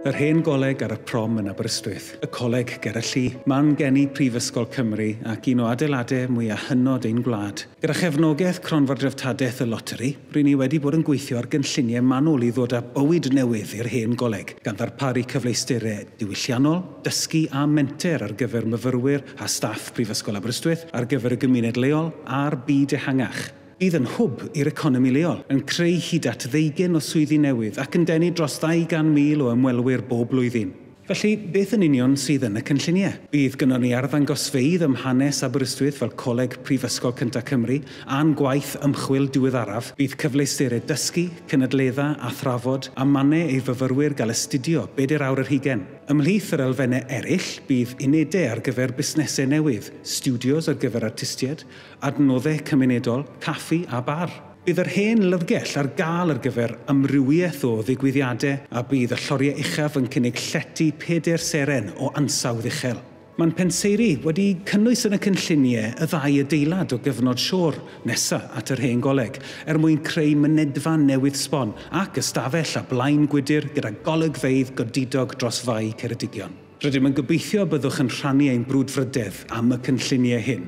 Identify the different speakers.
Speaker 1: Yr hen goleg ar y prom yn Aberystwyth, y coleg ger y lli, man geni Prifysgol Cymru ac un o adeiladau mwya hynod ein gwlad. Gyda chefnogaeth Cronfa'r Dreftadaeth y Loteri, ry'n ni wedi bod yn gweithio ar gynlluniau manwl i ddod â bywyd newydd i'r hen goleg, gan ddarparu cyfleusterau diwylliannol, dysgu a menter ar gyfer myfyrwyr a staff Prifysgol Aberystwyth, ar gyfer y gymuned leol a'r byd ehangach. Bydd yn hwb i'r economi leol, yn creu hyd at ddeugain o swyddi newydd ac yn denu dros 200,000 o ymwelwyr bob blwyddyn. Felly, beth yn union sydd yn y cynlluniau? Bydd gynnon ni arddangosfeydd ym hanes Aberystwyth fel Coleg Prifysgol Cynta Cymru a'n gwaith ymchwil diweddaraf. Bydd cyfleusterau dysgu, cynadledda, a thrafod, a mannau ei fyfyrwyr gael astudio bedair awr yr hugain. Ymhlith yr elfennau eraill, bydd unedau ar gyfer busnesau newydd, stiwdios ar gyfer artistiaid, Adnoddau Cymunedol, Caffi a Bar. Bydd yr Hen Lyfrgell ar gael ar gyfer amrywiaeth o ddigwyddiadau a bydd y lloriau uchaf yn cynnig llety pedair seren o ansawdd uchel. Mae'n penseiri wedi cynnwys yn y cynlluniau y ddau adeilad o gyfnod siôr nesa at yr Hen Goleg er mwyn creu mynedfa newydd sbon ac ystafell a blaen gwydr gyda golygfeydd godidog dros Fae Ceredigion. Rydym yn gobeithio y byddwch yn rhannu ein brwdfrydedd am y cynlluniau hyn.